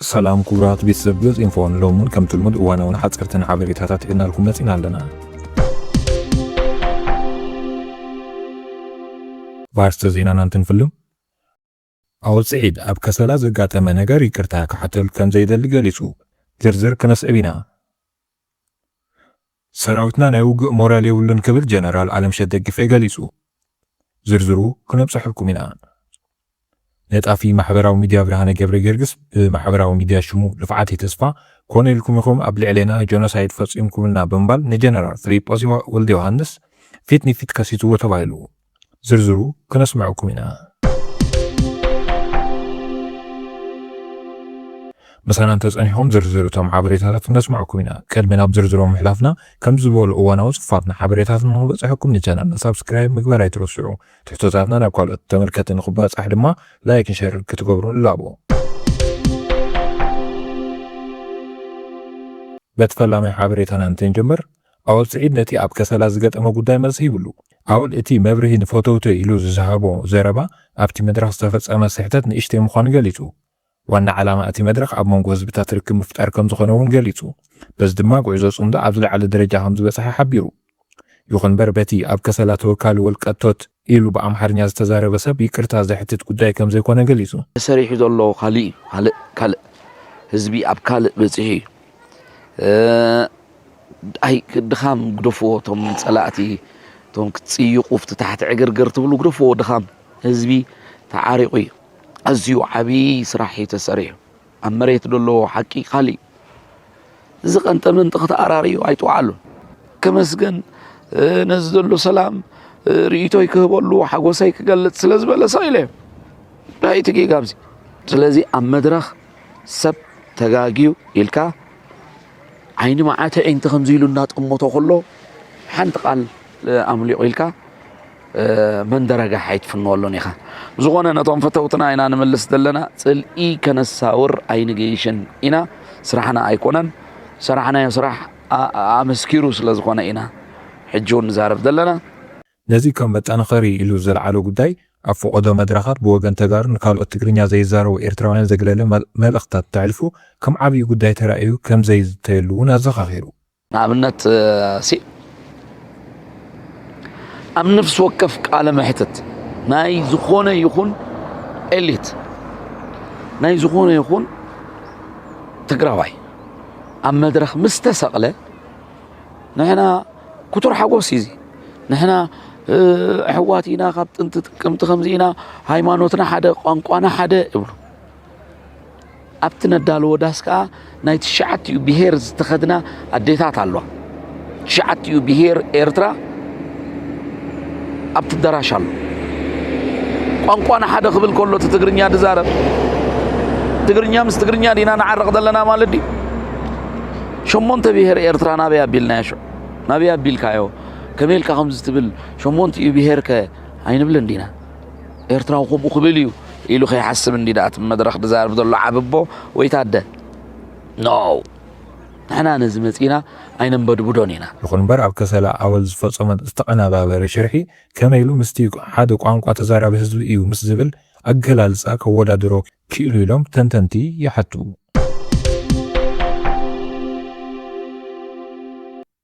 ሰላም ክቡራት ቤተሰብ ገጽ ኢንፎን ሎሙን ከም ትልሙድ እዋናውን ሓጸርትን ሓበሬታታት ሒዝናልኩም መጺና ኣለና። ባርስተ ዜናና እንትንፍልም ኣወል ስዒድ ኣብ ከሰላ ዘጋጠመ ነገር ይቅርታ ክሓተሉ ከምዘይደሊ ገሊፁ። ዝርዝር ክነስዕብ ኢና። ሰራዊትና ናይ ውግእ ሞራል የብሉን ክብል ጀነራል ኣለምሸት ደግፌ ገሊፁ። ዝርዝሩ ክነብፀሐልኩም ኢና። ነጣፊ ማሕበራዊ ሚድያ ብርሃነ ገብረጌርግስ ብማሕበራዊ ሚድያ ሽሙ ልፍዓተይ ተስፋ ኮነ ኢልኩም ኢኹም ኣብ ልዕሌና ጆኖሳይድ ፈፂምኩምልና ብምባል ንጀነራል ፍሊጶስ ወልደዮሃንስ ፊት ንፊት ከሲስዎ ተባሂሉ። ዝርዝሩ ክነስምዐኩም ኢና። ምሳና እንተ ጸኒሕኩም ዝርዝር እቶም ሓበሬታታት ክነስምዐኩም ኢና። ቅድሚ ናብ ዝርዝሮም ምሕላፍና፣ ከምዚ ዝበሉ እዋናዊ ጽፉፋትና ሓበሬታትን ንኽበጽሐኩም ንቻነልና ሳብስክራይብ ምግባር ኣይትረስዑ። ትሕቶታትና ናብ ካልኦት ተመልከቲ ንኽባጻሕ ድማ ላይክን ሸርን ክትገብሩ ንላቦ። በቲ ፈላማይ ሓበሬታና እንተንጀምር፣ ኣወል ስዒድ ነቲ ኣብ ከሰላ ዝገጠሞ ጉዳይ መልሲ ሂብሉ። ኣወል እቲ መብርሂ ንፈተውተይ ኢሉ ዝሃቦ ዘረባ ኣብቲ መድረኽ ዝተፈጸመ ስሕተት ንእሽተይ ምዃኑ ገሊጹ። ዋና ዓላማ እቲ መድረኽ ኣብ መንጎ ህዝብታት ርክብ ምፍጣር ከምዝኾነ እውን ገሊጹ። በዚ ድማ ጉዕዞ ጽምዶ ኣብ ዝለዓለ ደረጃ ከምዝበጽሐ ሓቢሩ። ይኹን'ምበር በቲ ኣብ ከሰላ ተወካሊ ወልቀቶት፣ ኢሉ ብኣምሓርኛ ዝተዛረበ ሰብ ይቅርታ ዘሕትት ጉዳይ ከምዘይኮነ ገሊጹ። ተሰሪሑ ዘሎ ካሊእ እዩ ካልእ ካልእ ህዝቢ ኣብ ካልእ በፂሑ እዩ ኣይ ድኻም ግደፍዎ እቶም ፀላእቲ እቶም ክትፅይቁ ኣብቲ ታሕቲ ዕግርግር ትብሉ ግደፍዎ ድኻም ህዝቢ ተዓሪቑ እዩ ኣዝዩ ዓብዪ ስራሕ እዩ ተሰሪሑ። ኣብ መሬት ደሎ ሓቂ ካሊእ እዚ ቀንጠመንጢ ክተኣራርዩ ኣይትውዓሉን። ከመስገን ነዚ ዘሎ ሰላም ርእቶይ ክህበሉ ሓጎሰይ ክገልጽ ስለ ዝበለ ሰቕ ኢለዮ እንታይ እቲ ጌጋ ኣብዚ ስለዚ ኣብ መድረኽ ሰብ ተጋግዩ ኢልካ ዓይኒ መዓት ኣዒንቲ ከምዚ ኢሉ እናጠመቶ ከሎ ሓንቲ ቃል ኣምሊቑ ኢልካ መንደረጋሕ ኣይትፍንወሉን ኢኻ ዝኾነ ነቶም ፈተውትና ኢና ንምልስ ዘለና ጽልኢ ከነሳውር ኣይንገይሽን ኢና ስራሕና ኣይኮነን ሰራሕናዮ ስራሕ ኣመስኪሩ ስለ ዝኾነ ኢና ሕጂ እውን ንዛረብ ዘለና ነዚ ከም መጠናኸሪ ኢሉ ዘልዓሎ ጉዳይ፣ ኣብ ፈቖዶ መድረኻት ብወገን ተጋሩን ንካልኦት ትግርኛ ዘይዛረቡ ኤርትራውያን ዘግለለ መልእኽትታት እንተሕልፉ ከም ዓብዪ ጉዳይ ተራእዩ ከምዘይዝተየሉ እውን ኣዘኻኺሩ። ንኣብነት ሲእ ኣብ ነፍሲ ወከፍ ቃለ መሕትት ናይ ዝኾነ ይኹን ኤሊት ናይ ዝኾነ ይኹን ትግራዋይ ኣብ መድረኽ ምስ ተሰቕለ ንሕና ክቱር ሓጎስ እዩ እዚ ንሕና ኣሕዋት ኢና ካብ ጥንቲ ጥቅምቲ ከምዚ ኢና ሃይማኖትና ሓደ ቋንቋና ሓደ እብሉ ኣብቲ ነዳልዎ ዳስ ከዓ ናይ ትሽዓትኡ ብሄር ዝተኸድና ኣዴታት ኣለዋ ትሽዓትኡ ብሄር ኤርትራ ኣብቲ ኣዳራሽ ኣሎ ቋንቋና ሓደ ክብል ከሎ እቲ ትግርኛ ድዛረብ ትግርኛ ምስ ትግርኛ ዲና ንዓርቕ ዘለና ማለት ድዩ ሸሞንተ ብሄር ኤርትራ ናበይ ኣቢልናዮ ሽዑ? ናበይ ኣቢልካዮ? ከመይ ኢልካ ከምዚ ትብል? ሸሞንቲኡ ብሄርከ ኣይንብልን ዲና? ኤርትራዊ ከምኡ ክብል እዩ ኢሉ ከይሓስብ እንዲ ደኣ እቲ መድረኽ ዝዛረብ ዘሎ ዓብቦ ወይ ታደ ኖ ንሕና ነዚ መጺና ኣይነንበድብዶን ኢና። ይኹን እምበር ኣብ ከሰላ ኣወል ዝፈጸሞ ዝተቐነባበረ ሽርሒ ከመይ ኢሉ ምስቲ ሓደ ቋንቋ ተዛራቢ ህዝቢ እዩ ምስ ዝብል ኣገላልጻ ከወዳድሮ ክኢሉ ኢሎም ተንተንቲ ይሓቱ።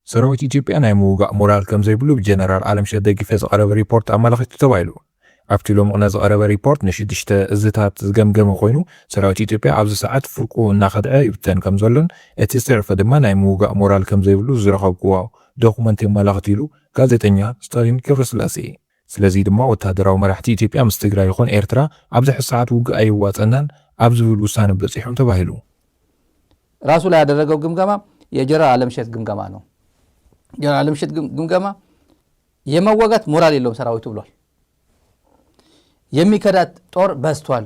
ሰራዊት ኢትዮጵያ ናይ ምውጋእ ሞራል ከምዘይብሉ ብጀነራል ኣለምሸት ደጊፈ ዝቐረበ ሪፖርት ኣመላኺቱ ተባሂሉ። ኣብቲ ሎሚ ቕነ ዝቐረበ ሪፖርት ንሽዱሽተ እዝታት ዝገምገመ ኮይኑ፣ ሰራዊት ኢትዮጵያ ኣብዚ ሰዓት ፍርቁ እናኸድዐ ይብተን ከምዘሎን እቲ ዝተረፈ ድማ ናይ ምውጋእ ሞራል ከምዘይብሉ ዝረኸብኩዎ ዶኩመንት የመላኽት ኢሉ ጋዜጠኛ ስታሊን ገብረስላሴ። ስለዚ ድማ ወተሃደራዊ መራሕቲ ኢትዮጵያ ምስ ትግራይ ይኹን ኤርትራ ኣብ ዝሕዝ ሰዓት ውግእ ኣየዋጸናን ኣብ ዝብል ውሳነ በጺሖም ተባሂሉ። ራሱ ላይ ያደረገው ግምገማ የጀነራል ኣለምሸት ግምገማ ነው ጀነራል ኣለምሸት ግምገማ የመወጋት ሞራል የለውም ሰራዊቱ ብሏል። የሚከዳት ጦር በዝቷል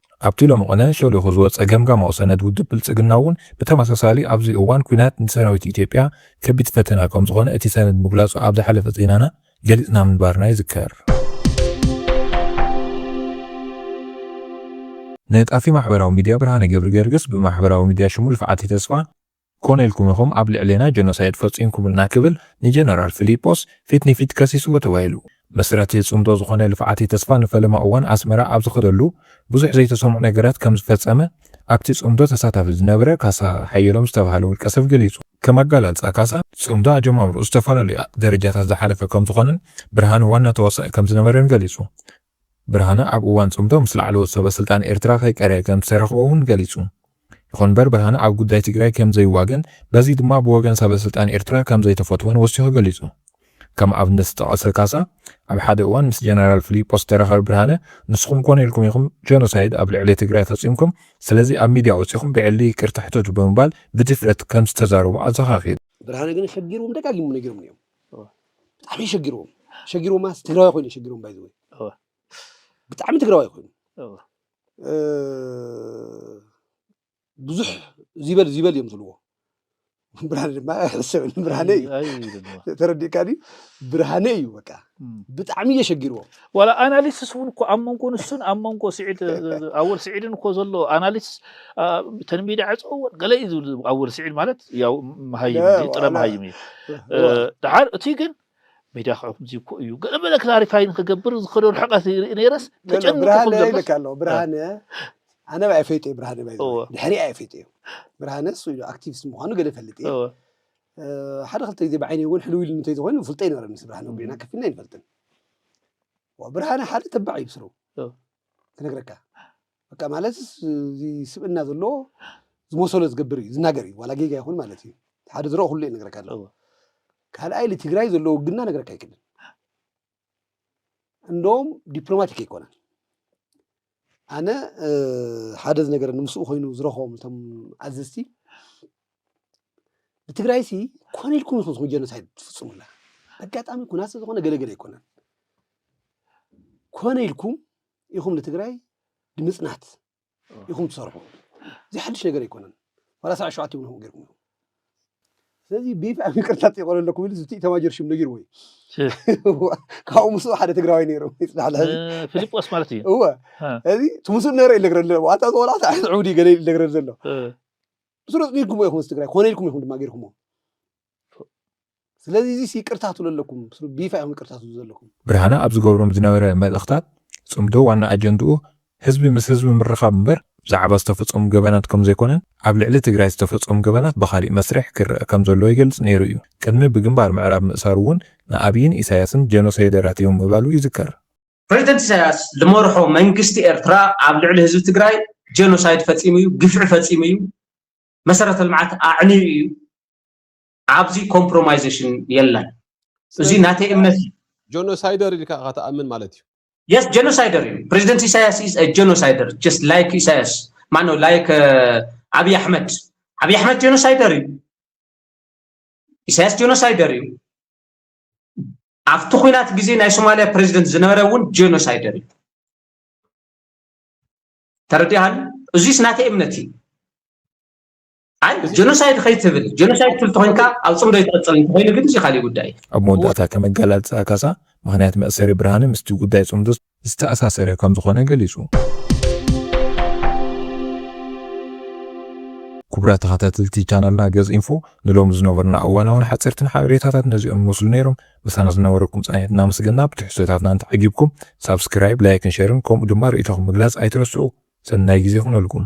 ኣብቲ ሎሚ ቅነ ሸሊኹ ዝወጸ ገምጋማዊ ሰነድ ውድብ ብልጽግና'ውን ብተመሳሳሊ ኣብዚ እዋን ኲናት ንሰራዊት ኢትዮጵያ ከቢድ ፈተና ከምዝኾነ እቲ ሰነድ ምግላጹ ኣብ ዝሓለፈ ዜናና ገሊጽና ምንባርና ይዝከር። ነጣፊ ማሕበራዊ ሚድያ ብርሃነ ገብሪገርግስ ብማሕበራዊ ሚድያ ሽሙ ልፍዓተይ ተስፋ፣ ኮነ ኢልኩም ኢኹም ኣብ ልዕሌና ጀኖሳይድ ፈጺምኩምልና ክብል ንጀነራል ፍሊጶስ ፊት ንፊት ከሲስዎ ተባሂሉ። መስራቲ ጽምዶ ዝኾነ ልፍዓቲ ተስፋ ንፈለማ እዋን ኣስመራ ኣብ ዝኸደሉ ብዙሕ ዘይተሰምዑ ነገራት ከም ዝፈጸመ ኣብቲ ጽምዶ ተሳታፊ ዝነበረ ካሳ ሓየሎም ዝተባህለ ውልቀ ሰብ ገሊጹ። ከም ኣገላልጻ ካሳ፣ ጽምዶ ኣጀማምርኡ ዝተፈላለዩ ደረጃታት ዝሓለፈ ከም ዝኾነን ብርሃኑ ዋና ተዋሳኢ ከም ዝነበረን ገሊጹ። ብርሃነ ኣብ እዋን ፅምዶ ምስ ላዕለዎት ሰበ ስልጣን ኤርትራ ከይቀረየ ከምዝሰረኸዎ እውን ገሊፁ። ይኹን እምበር ብርሃነ ኣብ ጉዳይ ትግራይ ከምዘይዋገን በዚ ድማ ብወገን ሰበ ስልጣን ኤርትራ ከምዘይተፈትወን ወሲኹ ገሊፁ። ከም ኣብነት ዝጠቐሰ ካሳ ኣብ ሓደ እዋን ምስ ጀነራል ፍሊጶስ ዝተረኸበ ብርሃነ ንስኹም ኮን ኢልኩም ኢኹም ጀኖሳይድ ኣብ ልዕሊ ትግራይ ፈፂምኩም ስለዚ ኣብ ሚድያ ወፂኹም ብዕሊ ይቅርታ ሕተቱ ብምባል ብድፍረት ከምዝተዛረቦ ኣዘኻኺሩ። ብርሃነ ግን ሰጊሮም ደጋጊሞም ነጊሮምኒ እዮም። ብጣዕሚ ሸጊርዎም ሸጊርዎም ማለት ትግራዋይ ኮይኑ ሸጊርዎም ባይ ዝወይ ብጣዕሚ ትግራዋይ ኮይኑ ብዙሕ ዚበል ዚበል እዮም ዝብልዎ ብርሃነ ድማ ሕሰብ ብርሃነ እዩ ተረዲእካ ድዩ ብርሃነ እዩ በቃ ብጣዕሚ እየሸጊርዎም ዋላ ኣናሊስስ እውን እኮ ኣብ መንጎ ንሱን ኣብ መንጎ ስዒድ ኣወል ስዒድን እኮ ዘሎ ኣናሊስስ ተን ሚድያ ዕፀወን ገለ እዩ ዝብል ኣወል ስዒድ ማለት ያው መሃይም እንጂ ጥረ መሃይም እዩ ድሓር እቲ ግን ሚድያ ክዕኩም እኮ እዩ ገለ በለ ክላሪፋይ ንክገብር ዝኸዶ ርሕቀት ይርኢ ነይረስ ተጨንቁ ብርሃነ ክብሎ ይልካ ኣሎ ብርሃነ ኣነ ባይ ፈይጦ እዩ ብርሃነ ባይ እወ ድሕሪ ኣየ ፈይጦ እዩ ብርሃነ እሱ ኢሉ ኣክቲቪስት ምዃኑ ገለ ፈልጥ እየ እወ ሓደ ክልተ ግዜ ብዓይነይ እውን ሕልው ኢሉ እንተይዝኾይኑ ፍልጦ ይነበረኒ ምስ ብርሃነ ጉዕና ከፊልና ይንፈልጥን ብርሃነ ሓደ ተባዕ እዩ ብስሩ ክነግረካ በቃ ማለት እዚ ስብእና ዘለዎ ዝመሰሎ ዝገብር እዩ ዝናገር እዩ ዋላ ጌጋ ይኹን ማለት እዩ ሓደ ዝረኦ ኩሉ እዩ ነገረካ ኣለዎ ካልኣይ ልትግራይ ዘለዎ ግና ነገረካ ኣይክእልን እንደውም ዲፕሎማቲክ ኣይኮነን ኣነ ሓደ ዝነገረኒ ምስኡ ኮይኑ ዝረኸቦም እቶም ኣዘዝቲ ብትግራይሲ ኮነ ኢልኩም ኢኹም ዝኹን ጀኖሳይድ ትፍፅሙላ ኣጋጣሚ ኩናት ስለዝኾነ ገለገለ ኣይኮነን ኮነ ኢልኩም ኢኹም ንትግራይ ንምፅናት ኢኹም ትሰርሑ እዚ ሓድሽ ነገር ኣይኮነን ዋላ ሰብዓ ሸውዓተ ይብልኹም ገይርኩም ስለዚ ብይፋ ይቅርታ ጠይቆ ኣለኩም ኢሉ ዝቲ ኢታማጆር ሽም ነጊርዎ እዩ ካብኡ ምስኡ ሓደ ትግራዋይ ነይሩ ይፅናሕ ልሕዚ ፊልጶስ ማለት እዩ እወ እዚ ትምስሉ ነረ እዩ ዝነግረሉ ዘሎ ዋታ ዝቆልዓ ሳዕት ዕቡድ እዩ ገለ ኢሉ ዝነግረሉ ዘሎ ብስሩ ፅኒትኩሞ ኢኹም ምስ ትግራይ ኮነ ኢልኩም ኢኹም ድማ ገይርኩሞ ስለዚ እዚስ ይቅርታ ትብሉ ኣለኩም ቢፋ ኢኩም ይቅርታ ትብሉ ዘለኩም። ብርሃነ ኣብ ዝገብሮም ዝነበረ መልእኽታት ጽምዶ ዋና ኣጀንድኡ ህዝቢ ምስ ህዝቢ ምርኻብ እምበር ብዛዕባ ዝተፈጸሙ ገበናት ከምዘይኮነን ኣብ ልዕሊ ትግራይ ዝተፈጸሙ ገበናት ብኻሊእ መስርሕ ክረኣ ከምዘለዎ ይገልጽ ነይሩ እዩ። ቅድሚ ብግንባር ምዕራብ ምእሳሩ እውን ንኣብይን ኢሳያስን ጀኖሰይደራት እዮም ምባሉ ይዝከር። ፕረዚደንት ኢሳያስ ልመርሖ መንግስቲ ኤርትራ ኣብ ልዕሊ ህዝቢ ትግራይ ጀኖሳይድ ፈጺሙ እዩ፣ ግፍዒ ፈጺሙ እዩ፣ መሰረተ ልምዓት ኣዕንዩ እዩ፣ ኣብዚ ኮምፕሮማይዜሽን የለን እዚ ናተይ እምነት እዩ ጆኖሳይደር ኢልካ ኢኻ ትኣምን ማለት እዩ የስ ጀኖሳይደር እዩ ፕሬዚደንት ኢሳያስ ኢዝ ጀኖሳይደር ጀስት ላይክ ኢሳያስ ማነው ላይክ ዓብዪ ኣሕመድ ዓብዪ ኣሕመድ ጀኖሳይደር እዩ ኢሳያስ ጀኖሳይደር እዩ ኣብቲ ኩናት ግዜ ናይ ሶማሊያ ፕሬዚደንት ዝነበረ እውን ጀኖሳይደር እዩ ተረዲሃኒ እዚስ ናተይ እምነት እዩ ኣይ ጀኖሳይድ ከይትብል ጀኖሳይድ ትብል ተኮይንካ ኣብ ፅምዶ ይትቕፅል እንተኮይኑ ግን እዚ ካሊእ ጉዳይ እዩ ኣብ መወዳእታ ከም ኣገላልፃ ካሳ፣ ምኽንያት መእሰሪ ብርሃነ ምስቲ ጉዳይ ፅምዶ ዝተኣሳሰረ ከምዝኾነ ገሊፁ። ክቡራት ተኸታተልቲ ቻናልና ገፅ ኢንፎ ንሎሚ ዝነበሩና እዋናውን ሓፀርትን ሓበሬታታት ነዚኦም ይመስሉ ነይሮም። ምሳና ዝነበረኩም ፃኒሕት እናመስገና ብትሕዝቶታትና እንተዓጊብኩም ሳብስክራይብ፣ ላይክን ሸርን ከምኡ ድማ ርእይቶኹም ምግላፅ ኣይትረስዑ። ሰናይ ግዜ ይኹነልኩም።